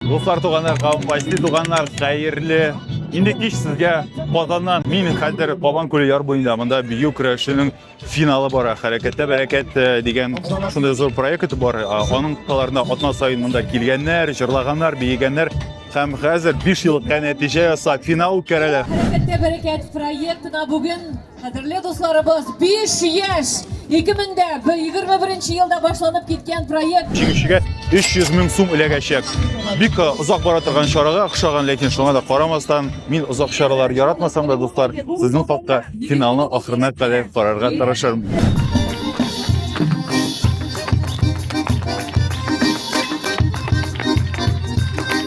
Дуслар, туганнар, кавымбайсы, туганнар, хәерле. Инде кич сезгә Казаннан мин хәзер Кабан күле яр буенда монда бию көрәшенең финалы бара. Хәрәкәттә бәрәкәт э, дигән шундый зур проект бар. Э, аның кысаларында атна саен монда килгәннәр, җырлаганнар, биегәннәр һәм хәзер 5 елга нәтиҗә ясап финал үткәрәләр. Хәрәкәттә бәрәкәт проектына бүген Кадерле дусларыбыз, биш яшь! 2021 елда башланып киткән проект. Җиңүчегә 300 мең сум эләгәчәк. Бик э, озак бара торган чарага охшаган, ләкин шуңа да карамастан, мин озак чаралар яратмасам да, дуслар, сезнең хакта финалны ахырына кадәр карарга тырышырмын.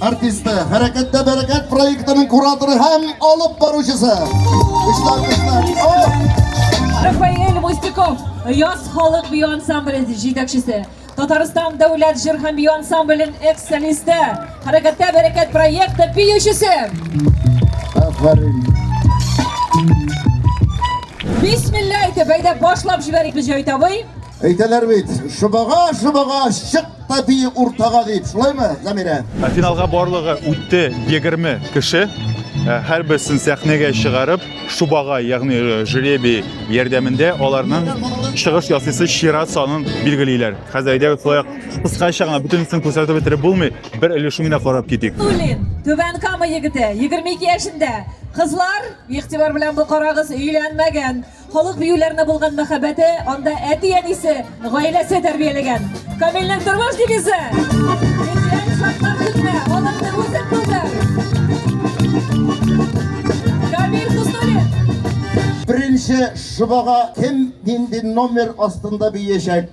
Артисты, Хәрәкәттә бәрәкәт проектының кураторы һәм алып баручысы. Эшләр, эшләр. Рафаэль Мустиков, Яз халык бию ансамбле җитәкчесе. Татарстан дәүләт җыр һәм бию ансамблен экс-солисты, Хәрәкәттә бәрәкәт проекты биючесе. Афәрин. Бисмилла әйтеп, әйдә башлап җибәрик без җайтабый. Әйтәләр бит, шыбага, шыбага, чык та бии уртага дип, шулаймы, Замирә? Ә финалга барлыгы үтте 20 кеше. Ә, Һәр берсен сәхнәгә чыгарып, шубага, ягъни э, жребий ярдәмендә аларның чыгыш ясыйсы чират санын билгелиләр. Хәзер әйдәгез шулай ук кыскача гына бөтенесен күрсәтеп бетереп булмый, бер өлешен генә карап китик. Тулин, Түбән Кама егете, 22 яшендә. Кызлар, игътибар белән бу карагыз, өйләнмәгән. Халык биюләренә булган мәхәббәте анда әти-әнисе, гаиләсе тәрбияләгән. Камилнең тормыш девизы! Җитсәң, шартлар көтмә, алымны үзең булдыр! Камил Хуснуллин! Беренче шобага кем нинди номер астында биячәк?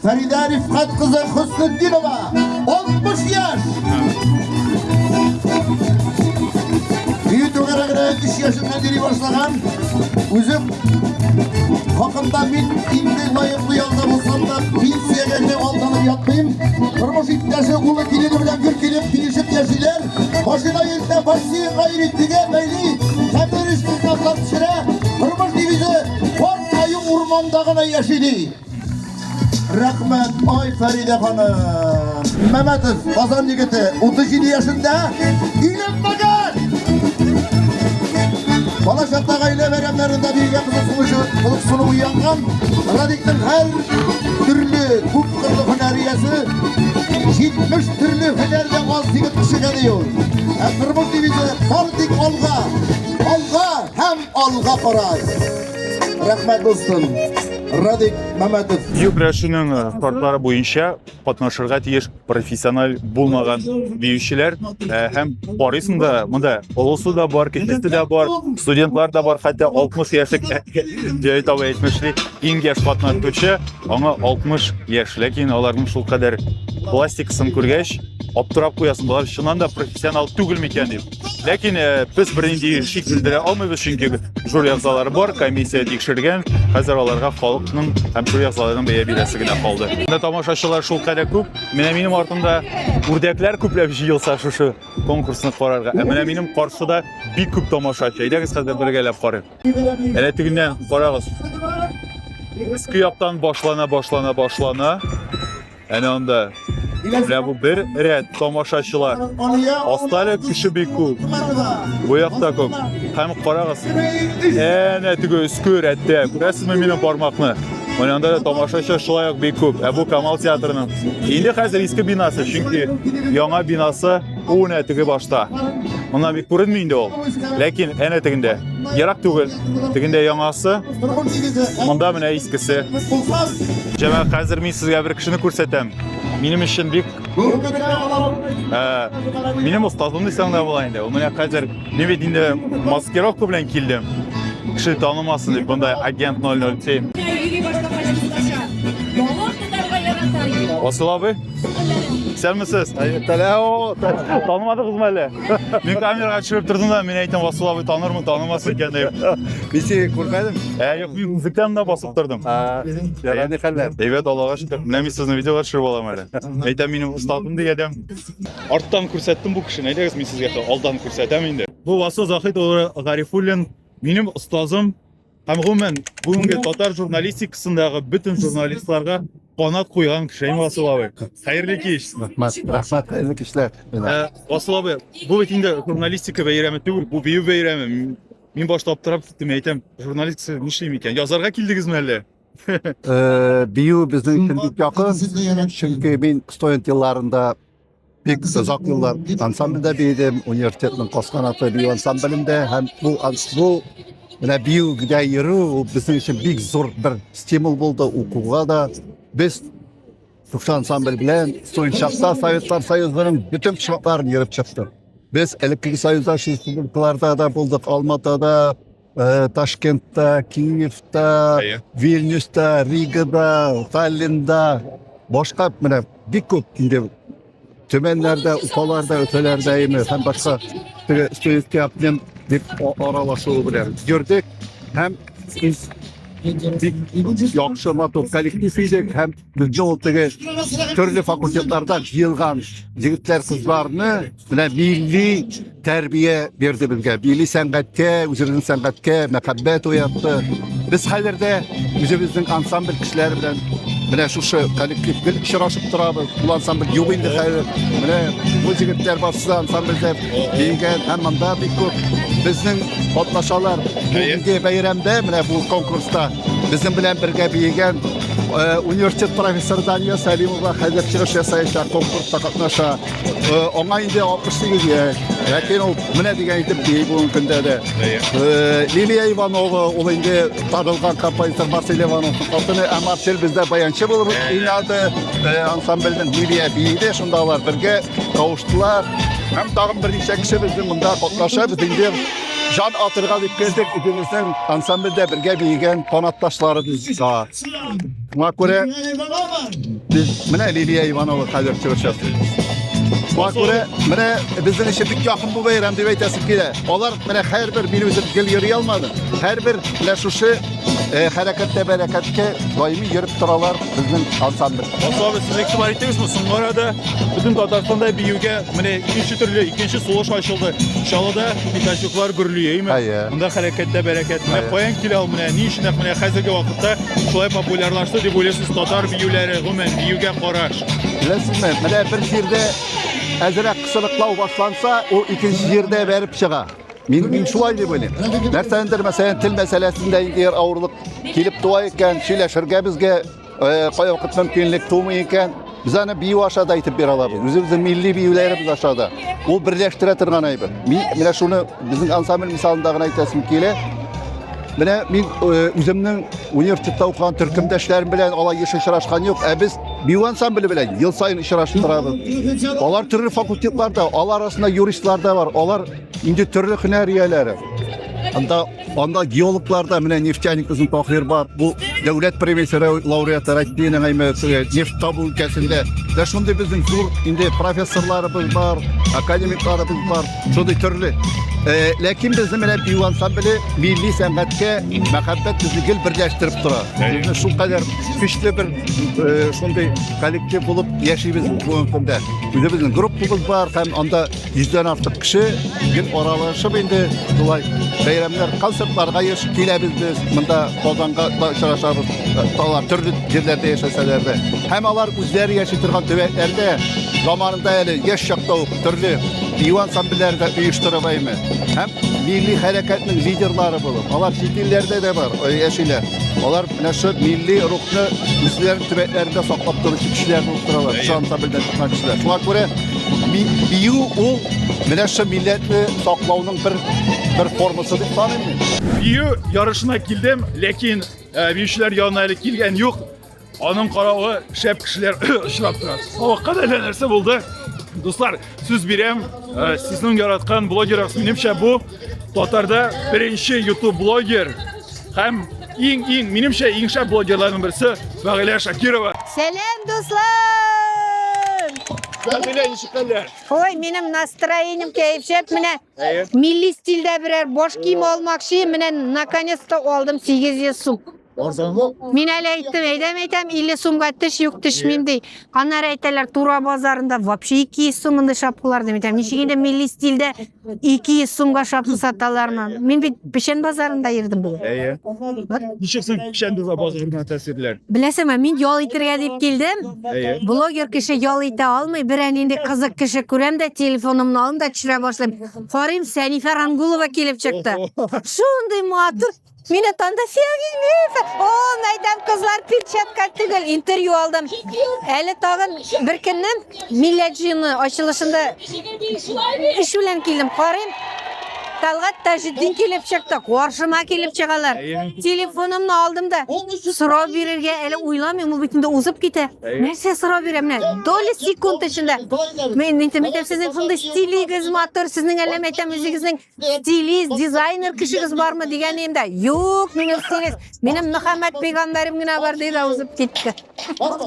Фәридә Рифкат кызы Хөснетдинова 60 яшь. Бию түгәрәгенә 3 яшендә йөри башлаган үзем хакында мин инде лаеклы ялда булсам да пенсиягә генә алданып ятмыйм. Тормыш иптәше улы килене белән гөр килеп килешеп яшиләр. Машина йөртә, почти гайри тигә бәйли, тәмер эш китаплар пешерә, тормыш девизы Форт Аю урманда гына яши ди. Рәхмәт, ай Фәридә ханым. Мәмәтов, Казан егете, 37 яшендә, өйләнмәгән! Бала чакта гаилә бәйрәмнәрендә бигрәк кызыксыну уянган Радикның һәр төрле күп Хөнәриясе 70 төрле һөнәрдә аз дигән кешегә дию. Ә тормыш дивизия бар тик алга, алга һәм алга карай. Рәхмәт булсын. Радик Мәмәтов. Бию көрәшенең э, шартлары буенча катнашырга тиеш профессиональ булмаган биючеләр э, һәм карыйсың да монда олысы да бар, кечесе дә бар, студентлар да бар, хәтта 60 яшьлек дә әйтмешли. Иң яшь катнашучы аңа 60 яшь, ләкин аларның шул кадәр пластикасын күргәч, аптырап куясың, болар чыннан да профессионал түгел микән дип. Ләкин э, без бернинди шик белдерә алмыйбыз, чөнки жюри әгъзалары бар, комиссия тикшергән. Хәзер аларга халыкның һәм жюри әгъзаларының бәя бирәсе генә калды. Менә тамашачылар шул кадәр күп. Менә минем артымда үрдәкләр күпләп җыелса шушы конкурсны карарга. Ә менә минем каршыда бик күп тамашачы. Әйдәгез хәзер бергәләп карыйк. Әнә тегеннән карагыз. Иске яктан башлана, башлана, башлана. Әнә анда. Менә бу бер рәт тамашачылар. Аста әле кеше бик күп. Бу якта күп. Һәм карагыз. Әнә теге өске рәттә. Күрәсезме минем бармакны? Менә анда да тамашачы шулай ук бик күп. Ә бу Камал театрының. Инде хәзер иске бинасы, чөнки яңа бинасы Бу нә теге башта. Моннан бик күренми инде ул. Ләкин әнә тегендә. Ерак түгел. Тегендә яңасы. Монда менә искесе. Җәмәгә хәзер мин сезгә бер кешене күрсәтәм. Минем өчен бик Минем остазым дисәң дә була инде. Ул менә хәзер мин бит инде маскировка белән килдем. Кеше танымасын дип, монда агент 007. Асылавы? Исәнмесез. Таләо. Танымадыгызмы әле? Мин камерага төшереп тордым да, мин әйтәм, Васыл абый танырмын, танымас икән дип. Мин сине күрмәдем. Ә, юк, мин күзлектән дә басып тордым. Ярар, ни хәлләр? Әйбәт, Аллага шөкер. Менә мин сезне видеога төшереп алам әле. Әйтәм, минем остатым дигәдәм. Арттан күрсәттем бу кешене. Әйдәгез, мин сезгә алдан күрсәтәм инде. Бу Васыл Захит улы Гарифуллин, минем остазым. Һәм гомумән, бүгенге татар журналистикасындагы бөтен журналистларга канат куйган кеше инде Васил абый. Хәерле кич. Рәхмәт, рәхмәт, хәерле кичләр. Ә, Васил абый, бу бит инде журналистика бәйрәме түгел, бу бию бәйрәме. Мин- Мин башта аптырап киттем, мин әйтәм, журналистика нишли микән? Язарга килдегезме әллә? Э, Бию безнең өчен бик якын, чөнки мин студент елларында Бик озак еллар ансамбльдә биедем, университетның кос канаты бию ансамблендә һәм бу бу менә биюгә йөрү ул безнең өчен бик зур бер стимул булды укуга да. Без Сукшы ансамбль белән Суенчакта Советлар Союзының бөтен почмакларын йөреп чыктык. Без элеккеге союзда республикаларда да булдык, Алматада, Э, ташкентта киевта иә. вильнюста ригада таллинда башка менә бик көп инде төмәннәрдә уфаларда өфәләрдә име һәм башка теге студентский обмен дип аралашуы белән йөрдек һәм бик яхшы матур коллектив идек һәм Безне ул теге төрле факультетлардан җыелган егетләр кызларны менә милли тәрбия бирде безгә. Милли сәнгатькә, үзебезнең сәнгатькә мәхәббәт уятты. Без хәзер дә үзебезнең ансамбль кешеләре белән менә шушы коллектив гел очрашып торабыз. Бу ансамбль юк инде хәзер. Менә бу егетләр барсы да ансамбльдә биегән һәм монда бик күп безнең катнашалар. Бу бәйрәмдә, менә бу конкурста Безнең белән бергә биегән э, университет профессоры Дания Сәлимова хәзер чыгыш ясаячак, конкурста катнаша. Э, аңа инде 68 яшь, ләкин ул менә дигән итеп бии бүгенге көндә дә. Э, Лилия Иванова, ул инде танылган композитор Марсель Ивановның хатыны, ә Марсель бездә баянчы булып уйнады. Ансамбльнең Лилия биеде, шунда алар бергә кавыштылар. Һәм тагын берничә кеше безнең монда катнаша, без инде Жан атырга дип келдек, үзебезнең ансамбльдә бергә биегән канатташларыбызга. Шуңа күрә без менә Лилия Иванова хәзер чыгыш ясый. Шуңа күрә менә безнең өчен бик якын бу бәйрәм дип әйтәсем килә. Алар менә һәрбер минем үзем гел йөри алмадым. Һәрбер менә шушы Э, хәрәкәттә бәрәкәткә даими йөреп торалар безнең ансамбль. Ансамбль сез игътибар иттегез бу соңгы арада бөтен Татарстанда биюгә менә икенче төрле икенче сулыш ачылды. Чалыда пятачоклар гөрлие, әйме? Әйе. Монда хәрәкәттә бәрәкәт. Менә каян килә ул менә ни өчен менә хәзерге вакытта шулай популярлашты дип уйлыйсыз татар биюләре, гомумән биюгә караш. Беләсезме, менә бер җирдә әзрәк кысылыклау башланса, ул икенче җирдә бәреп чыга. Мин, мин шулай дип уйлыйм. Нәрсә эндер мәсәлән тел мәсьәләсендә инде ир авырлык килеп туа икән, сөйләшергә безгә э, кая вакыт мөмкинлек тумый икән. Без аны бию аша да әйтеп бирә алабыз. Үзебезнең милли биюләребез аша да. Ул берләштерә торган әйбер. Мин менә шуны безнең ансамбль мисалында гына әйтәсем килә. Менә мин э, үземнең университетта укыган төркемдәшләрем белән алай еш очрашкан юк, ә без бию ансамбле белән ел саен очрашып торабыз. Алар төрле факультетларда, алар арасында юристлар да бар, алар Инде төрле һөнәр ияләре. Анда анда геологларда менә нефтяник безнең Тахир бар. Бу дәүләт премиясе лауреаты Россиянең әйме нефть табу өлкәсендә. Дә шундый безнең зур инде профессорларыбыз бар, академикларыбыз бар. Шундый төрле. Э, ләкин безнең менә бию ансамбле милли сәнгатькә мәхәббәт безне гел берләштереп тора. Безне шул кадәр көчле бер э, шундый коллектив булып яшибез бүгенге көндә. Үзебезнең группабыз бар һәм анда Йөздән артык кеше гел аралашып инде шулай бәйрәмнәр, концертларга еш киләбез без. Монда Казанга да очрашабыз. Алар төрле җирләрдә яшәсәләр дә. Һәм алар үзләре яши торган төбәкләрдә заманында әле яшь чакта ук төрле бию ансамбльләре дә оештырып әйме. Һәм милли хәрәкәтнең лидерлары булып, алар чит илләрдә дә бар, яшиләр. Алар Менә шул милли рухны үзләренең төбәкләрендә саклап торучы кешеләр булып торалар. Шул ансамбльдән чыккан кешеләр. Шуңа күрә бию ул менә шул милләтне саклауның бер бер формасы дип саныйм мин. Бию ярышына килдем, ләкин э, биючеләр янына әле килгән юк. Аның каравы шәп кешеләр очрап тора. Сабакка да нәрсә булды. Дуслар, Сүз бирәм, э, сезнең яраткан блогерыгыз минемчә бу татарда беренче YouTube блогер һәм иң иң минемчә иң шәп блогерларның берсе Фагилә Шакирова. Сәлам дуслар! Фагилә ничек хәлләр? Ой, минем настроением кәефчәп менә. Милли стильдә берәр баш кием алмакчы, менә наконец-то алдым 800 сум. Арзанлы. Мин әле әйттем, әйдәм әйтәм, 50 сумга теш юк, теш мин ди. Аннары әйтәләр, Тура базарында вообще 200 сум инде шапкалар дип әйтәм. Ничек инде милли стильдә 200 сумга шапка саталармы? Мин бит Печән базарында йөрдем бүген. Әйе. Ничек соң печән доза базарына тәэсирләр? Беләсеңме, мин ял итергә дип килдем. Әйе. Блогер кеше ял итә алмый, берәр нинди кызык кеше күрәм дә, телефонымны алам да төшерә башлыйм. Карыйм, Сәнифә Рангулова килеп чыкты. Шундый матур Мин атанда сәгыймев. О, мәйдан кызлар перчатка түгел, интервью алдым. Әле тагын бер көннән милләт җыены ачылышында эш белән килдем. Карыйм, Талгат Таҗетдин килеп чыкты, каршыма килеп чыгалар. Телефонымны алдым да, сорау бирергә әле уйламыйм, ул бит инде узып китә. Нәрсә сорау бирәм менә? Доля секунд эчендә. Мин әйтәм, әйтәм, сезнең шундый стилегез матур, сезнең әллә мәйтәм үзегезнең стилист дизайнер кешегез бармы дигән инде юк минем стилист минем мөхәммәд пәйгамбәрем генә бар диде узып китте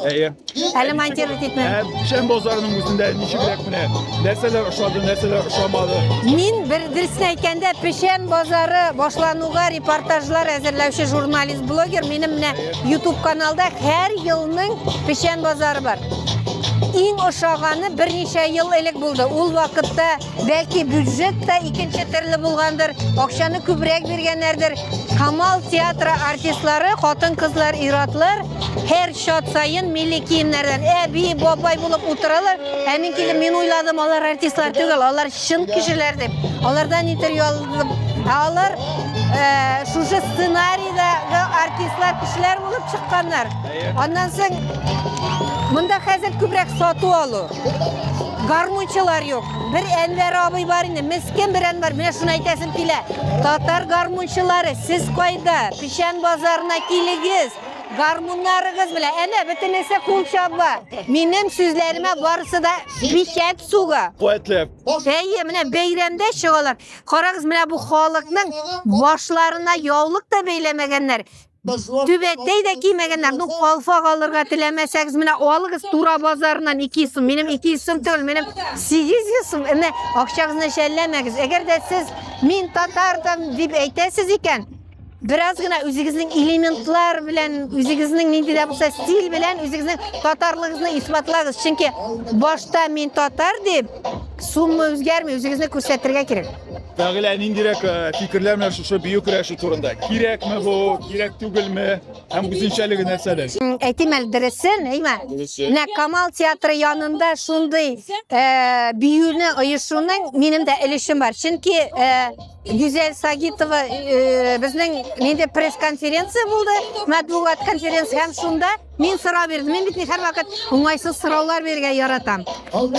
әйе әле монтировать итмә шәм базарының үзендә ничегрәк менә нәрсәләр ошады нәрсәләр ошамады мин бер дөресен әйткәндә печән базары башлануга репортажлар әзерләүче журналист блогер минем менә ютуб каналда һәр елның печән базары бар иң ошаганы берничә ел элек булды ул вакытта Бәлки бюджет та икенче төрле булгандыр, акчаны күбрәк биргәннәрдер. Камал театры артистлары, хатын-кызлар, иратлар һәр чат саен милли киемнәрдән әби, бабай булып утыралар. Ә мин килеп мин уйладым, алар артистлар түгел, алар чын кешеләр дип. Алардан интервью алдым. Ә алар э, шушы сценарийдагы артистлар кешеләр булып чыкканнар. Аннан соң монда хәзер күбрәк сату алу. Гармунчылар юк. Бер Әнвәр абый бар инде, мескен бер Әнвәр. Менә шуны әйтәсем килә. Татар гармунчылары, сез кайда? Печән базарына килегез. Гармуннарыгыз белә. Әнә бөтенесе кул чаба. Минем сүзләремә барысы да печәт суга. Куәтләп. Әйе, менә бәйрәмдә чыгалар. Карагыз, менә бу халыкның башларына яулык та бәйләмәгәннәр. Түбәтәй дә кимәгәннәр. Ну, калфак алырга теләмәсәгез, менә алыгыз Тура базарыннан 200 сум. Минем 200 сум түгел, минем 800 сум. Әмма акчагызны шәлләмәгез. Әгәр дә сез мин татардым дип әйтәсез икән, бераз гына үзегезнең элементлар белән, үзегезнең нинди дә булса стиль белән үзегезнең татарлыгызны исбатлагыз. Чөнки башта мин татар дип сумма үзгәрми, үзегезне күрсәтергә кирәк. Фәгилә ниндирәк э, фикерләр менә шушы бию көрәше турында? Кирәкме бу, кирәк түгелме? Һәм үзенчәлеге нәрсәдә? Әйтим әле дөресен, әйме? Менә Камал театры янында шундый э, биюне оешуның минем дә өлешем бар. Чөнки э, Гүзәл Сагитова э, безнең нинди пресс-конференция булды, матбугат конференция һәм шунда Мин сорау бирдем. Мин бит ни һәрвакыт уңайсыз сораулар бирергә яратам.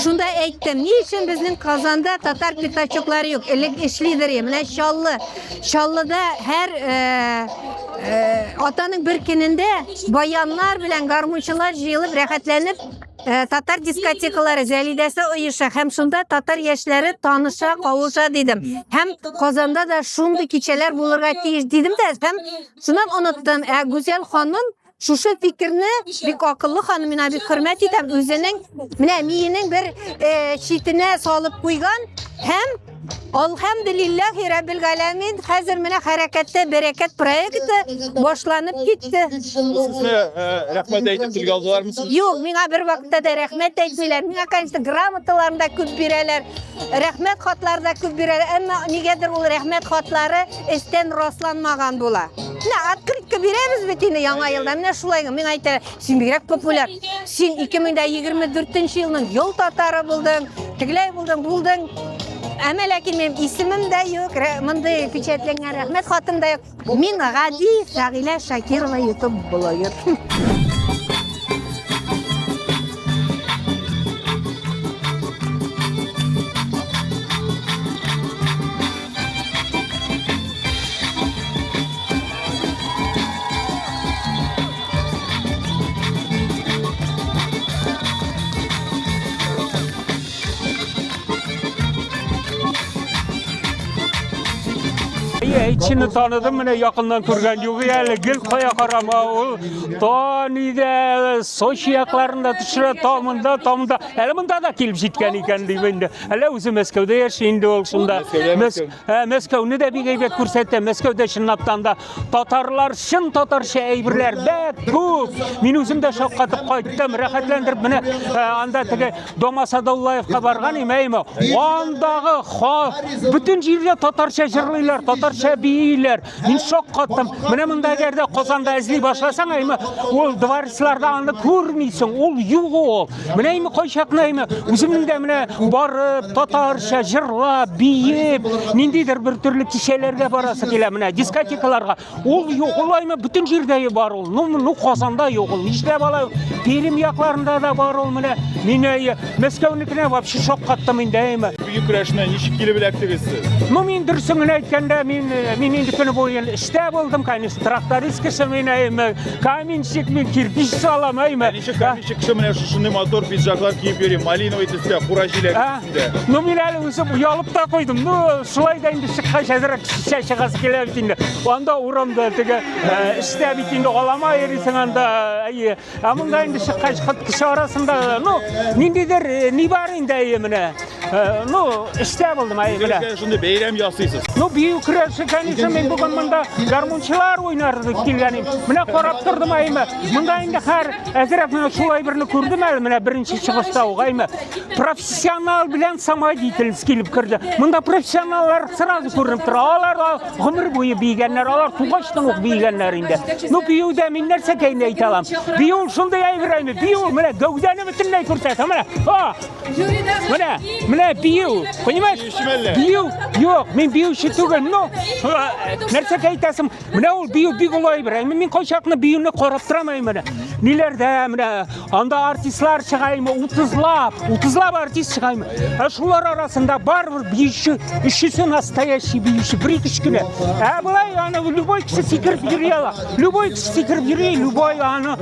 Шунда әйттем, ни өчен безнең Казанда татар пятачоклары юк? Элек эшлидер, менә Чаллы. Чаллыда һәр э, э, атаның бер көнендә баяннар белән гармунчылар җыелып рәхәтләнеп э, татар дискотекалары зәлидәсе оеша һәм шунда татар яшьләре таныша, кавыша дидем. Һәм Казанда да шундый кичәләр булырга тиеш дидем дә һәм шуннан оныттым. Ә Гүзәл ханым Шушы фикерне бик акыллы ханым, мина бик хөрмәт итәм, үзенең менә миенең бер э, читенә салып куйган һәм Алхамдулиллахи раббил галәмин, хәзер менә хәрәкәттә берекет проекты башланып китте. Сезне э, рәхмәт әйтеп телгә алдылармы? Юк, миңа бер вакытта да рәхмәт әйтмиләр. Миңа, конечно, грамоталарны да күп бирәләр, рәхмәт хатлары да күп бирәләр. Әмма нигәдер ул рәхмәт хатлары эчтән расланмаган була. Менә открытка бирәбез бит инде яңа елда. Менә шулай гына мин әйтәм, син бигрәк популяр. Син 2024 елның ел татары булдың, тегеләй булдың, булдың. Әмә ләкин минем исемем дә юк, мондый печатләнгән рәхмәт хатым да юк. Мин гади Сәгилә Шакирова YouTube блогер. Кешене таныдым менә якыннан күргән югы әле гел кая карама ул Тониде Сочи якларында төшерә тамында тамында әле монда да килеп җиткән икән дип инде Әле үзе Мәскәүдә яши инде ул шунда. Мәскәүне дә бик әйбәт күрсәтә. Мәскәүдә чынлаптан да татарлар чын татарча әйберләр бәк күп. Мин үзем дә шаккатып кайттым, рәхәтләндереп менә анда теге Дома Садуллаевка барган имәйме. Андагы ха бөтен җирдә татарча җырлыйлар, татарча бииләр. Мин шок каттым. Менә монда әгәр дә Казанда эзли башласаң, әйме ул дворецларда аны күрмисең. Ул юк ул. Менә әйме кайчакны әйме үземнең дә менә барып татарча җырлап, биеп, ниндидер бер төрле кичәләргә барасы килә менә дискотекаларга. Ул юк ул әйме бөтен җирдә бар ул. Ну, ну Казанда юк ул. Нишләп алай? Перим якларында да бар ул менә. Мин әйе Мәскәүнекенә вообще шаккаттым инде, әйме. Бөек көрәшне ничек килеп эләктегез сез? Ну, мин дөресен генә әйткәндә, мин э, мин инде көне буе эштә булдым, конечно, тракторист кеше мин, әйме. Каменщик мин, кирпич салам, әйме. Ничек каменщик кеше менә шушындый мотор пиджаклар киеп йөри, малиновый төстә, кура җиләге ә? өстендә. Ну, мин әле үзем оялып та куйдым. Ну, шулай да инде чыккач әзрәк шешә чыгасы килә бит инде. Анда урамда теге э, эштә бит инде алама йөрисең анда, әйе. Ә монда инде чыккач хат кеше арасында, ну, ниндидер э, ни бар инде әйе менә. Э, ну, эштә булдым әйе менә. Үзегез шундый бәйрәм ясыйсыз. Ну, бию көрәше, конечно, мин бүген монда гармунчылар уйнар дип килгәнем. Менә карап тордым әйе. Монда инде хәр әзрәк менә шулай берне күрдем әле менә беренче чыгышта ук әйе. Профессионал белән самодеятельность килеп керде. Монда профессионаллар сразу күренеп тора. Алар Гомер буе бигәннәр, алар тугачтан ук бигәннәр инде. Ну биюдә мин нәрсә кәйне әйтә алам? Бию шундый әйберәйме? Бию менә гәүдәне бөтенләй күрсәтә. Менә, а! Менә, менә бию. Понимаешь? Бию. Юк, мин биюче түгел. Ну, нәрсә әйтәсем? Менә ул бию бик олай әйберәйме? Мин кайчакны биюне карап торамын менә. Ниләрдә менә Анда артистлар чыгаймы? 30лап, 30лап артист чыгаймы? Ә шулар арасында барыбер биюче, өчесе настоящий биюче, бер ике кенә. Ә былай аны любой кеше сикереп йөри ала. Любой кеше сикереп йөри, любой аны.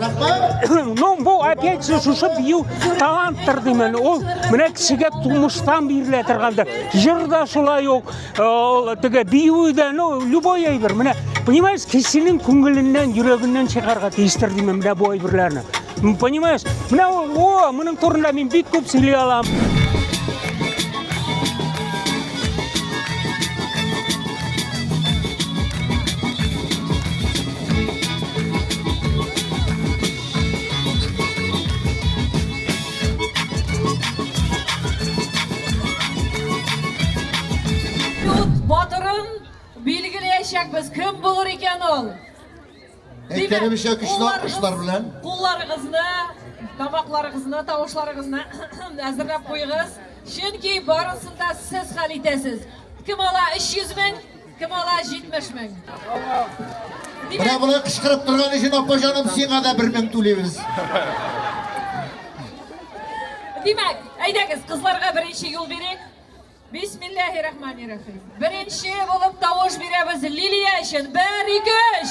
Ну, бу опять же шушы бию таланттыр димен. Ул менә кешегә тумыштан бирелә торганда. Җыр да шулай ук, Ул теге бию дә, ну, любой әйбер. Менә, понимаешь, кешенең күңеленнән, йөрәгеннән чыгарга тиештер димен менә бу әйберләрне. Понимаешь? Менә ул, о, моның турында мин бик күп сөйли алам. Батырын билгеләячәкбез, кем булыр икән ул? Әйткәнебезчә көчле алкышлар белән. Кулларыгызны, тамакларыгызны, тавышларыгызны әзерләп куегыз. Чөнки барысын да сез хәл итәсез. Кем ала 300 мең? Кем ала 70 мең? Менә болай кычкырып торган өчен, апа җаным, сиңа да бер мең түлибез. Димәк, әйдәгез, кызларга беренче юл бирик. Бисмиллахи рахмани рахим. Беренче булып тавыш бирәбез Лилия өчен. Бер, ике, өч!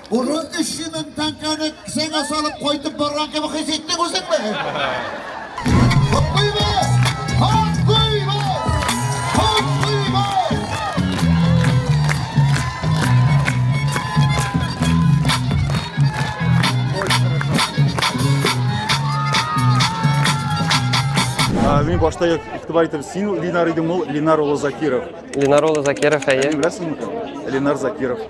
Аны 300 мең тәңкәне кесәңә салып кайтып барган кебек хис иттең үзеңне? Котлыйбыз! Котлыйбыз! Котлыйбыз! Мин башта игътибар итеп, син Ленар идең, ул Ленар улы Закиров. Ленар улы Закиров, әйе. Беләсеңме? Ленар Закиров.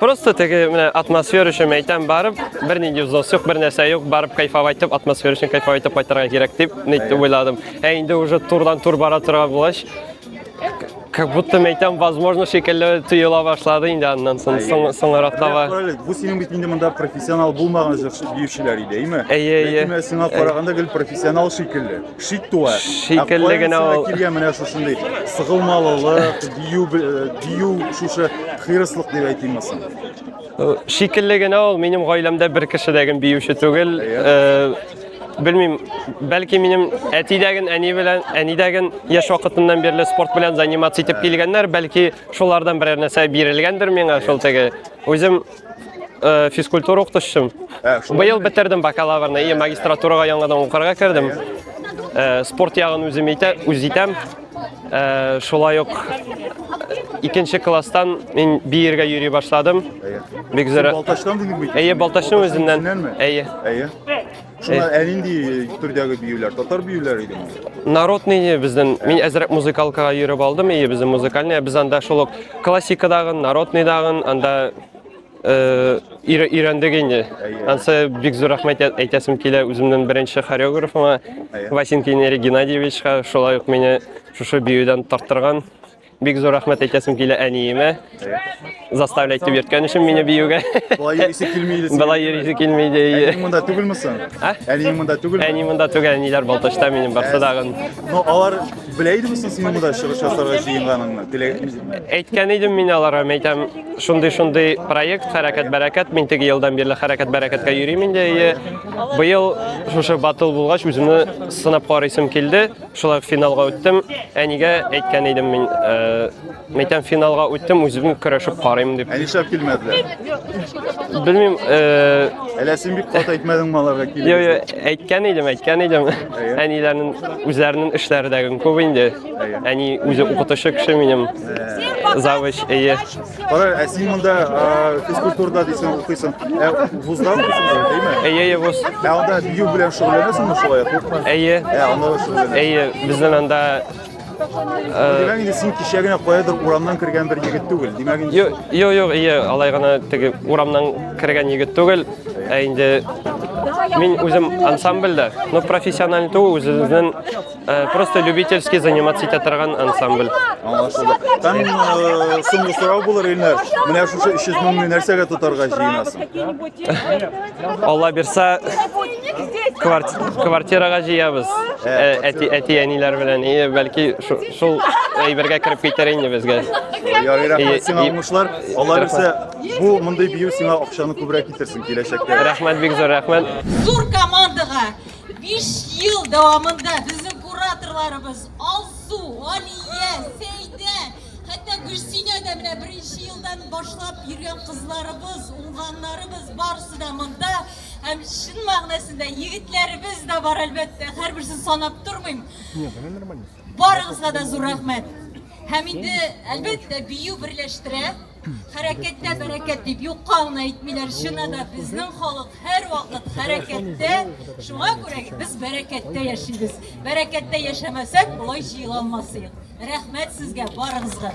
Просто теге менә атмосфера өчен әйтәм, барып бернинди взнос юк, бер нәрсә юк, барып кайфап айтып, атмосфера өчен кайфап айтып кайтырга кирәк дип нитте уйладым. Ә инде уже турдан тур бара торган булгач, как будто әйтәм, возможно, шикелле тоела башлады инде аннан соң соң- соңрак таба. Әле, Бу синең бит инде монда профессионал булмаган җырчы биючеләр иде, әйме? Әйе, әйе. Ләкин менә сиңа караганда гел профессионал шикелле. шик туа. Шикелле генә ул. Килгән менә шушындый сыгылмалылык, дию дию шушы хирыслык дип әйтимме соң? Шикелле генә ул минем гаиләмдә бер кеше дә гем биюче түгел. Белмим, бәлки минем әтидәген, әни белән, әнидәген яшь вакытыннан бирле спорт белән заниматься итеп килгәннәр, бәлки шулардан берәр нәрсә бирелгәндер миңа, шул теге. Үзем Э, физкультура укытучысым. Ә, шулай Быел бетердем бакалаврны, и магистратурага яңадан укырга кердем. Э, спорт ягын үзем итә, үз итәм. Э, шулай ук икенче класстан мин биергә йөри башладым. Бик зур. Балтачтан дидең бит. Әйе, Балтачның үзеннән. Үзеннәнме? Әйе. Әйе. Шуннан ә нинди төрдәге биюләр? Татар биюләре идеме? Народный безнең. Мин әзрәк музыкалкага йөреп алдым. Ие, безнең музыкальный. Без анда шул ук классикадагы, народныйдагы, анда э, өйрә- өйрәндек инде. Ансы бик зур рәхмәт әйт- әйтәсем килә үземнең беренче хореографыма Васенкин Эрик Геннадьевичка, шулай ук мине шушы биюдән тарттырган. Бик зур рәхмәт әйтәсем килә әниемә. Заставлять дип йөрткән өчен мине биюгә. Болай йөрисе килми иде. Болай йөрисе килми иде. Әниең монда түгелме соң? Ә? Әниең монда түгелме? Әни монда түгел, әниләр Балтачта минем барсы дагын. Ну, алар белә идеме соң синең монда чыгыш ясарга җыенганыңны? Теләгән- Әйткән идем мин аларга, мин әйтәм, шундый-шундый проект, хәрәкәт-бәрәкәт, мин теге елдан бирле хәрәкәт-бәрәкәткә йөрим инде. И, Быел шушы батыл булгач, үземне сынап карыйсым килде. Шулай финалга үттем. Әнигә әйткән идем мин, э, мәйтәм финалга үттем, үзем көрәшеп карыйм дип. Ә нишләп килмәделәр? Белмим, э, Әллә син бик кат әйтмәдеңме аларга килеп? Йо, йо, әйткән идем, әйткән идем. Әниләрнең үзләренең эшләрдәген күп инде. Әни үзе укытучы кеше минем. Завуч, әйе. Кара, ә син монда физкультурада дисең укыйсың. Ә вузда укыйсың, димме? Әйе, әйе, вуз. Ә анда бию белән шөгыльләнәсеңме шулай, куркма? Әйе. Ә анда шөгыльләнәсең. Әйе, безнең анда Димәк инде син кичә генә каядыр урамнан кергән бер егет түгел. Димәк инде Юк, юк, юк, әйе, алай гына теге урамнан кергән егет түгел. Ә инде мин үзем ансамбльдә, но профессиональ түгел, үзебезнең Э, просто любительский заниматься итә торган ансамбль. Аңлашылды. Там э, соңгы сорау булыр, Илнар. Менә шушы 300 меңне нәрсәгә тотарга җыенасың? Алла бирса, квартирага җыябыз. Әти әти әниләр белән, и бәлки шул әйбергә кереп китәр инде безгә. Ярый, рәхмәт сиңа уңышлар. Алла бирса, бу мондый бию сиңа акчаны күбрәк китерсен киләчәктә. Рәхмәт бик зур, рәхмәт. Зур командага Биш ел дәвамында безнең кураторларыбыз Алсу, Алия, Сәйдә, хәтта Гөлсинә дә менә беренче елдан башлап йөргән кызларыбыз, уңганнарыбыз барысы да монда. Һәм чын мәгънәсендә егетләребез дә бар әлбәттә, һәрберсен санап тормыйм. Барыгызга да зур рәхмәт. Һәм инде әлбәттә бию берләштерә. Хәрәкәттә бәрәкәт дип юкка гына әйтмиләр. Чына да безнең халык һәрвакыт хәрәкәттә. Шуңа күрә без бәрәкәттә яшибез. Бәрәкәттә яшәмәсәк, болай җыела алмас идек. Рәхмәт сезгә барыгызга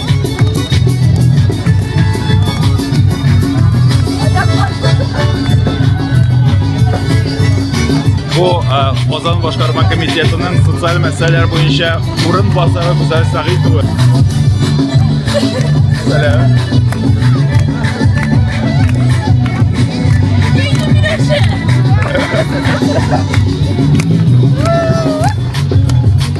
Бу Казан э, башкарма комитетының социаль мәсьәләләр буенча урын басары Гүзәл Сәгыйтова. Сәлам. Ha ha ha ha!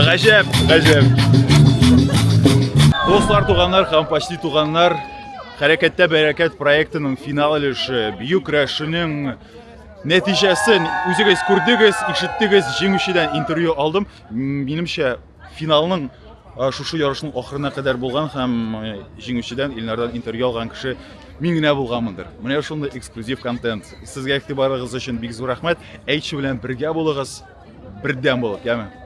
Гаҗәп, гаҗәп. Дуслар, туганнар һәм почти туганнар, Хәрәкәттә бәрәкәт проектының финал өлеше, бию көрәшенең нәтиҗәсен үзегез күрдегез, ишеттегез, җиңүчедән интервью алдым. Минемчә, Финалның шушы ярышның ахырына кадәр булган һәм җиңүчедән Илнардан интервью алган кеше мин генә булганмындыр. Менә шундый эксклюзив контент. Сезгә игътибарыгыз өчен бик зур рәхмәт. Әйтче белән бергә булыгыз, бердәм булып, яме.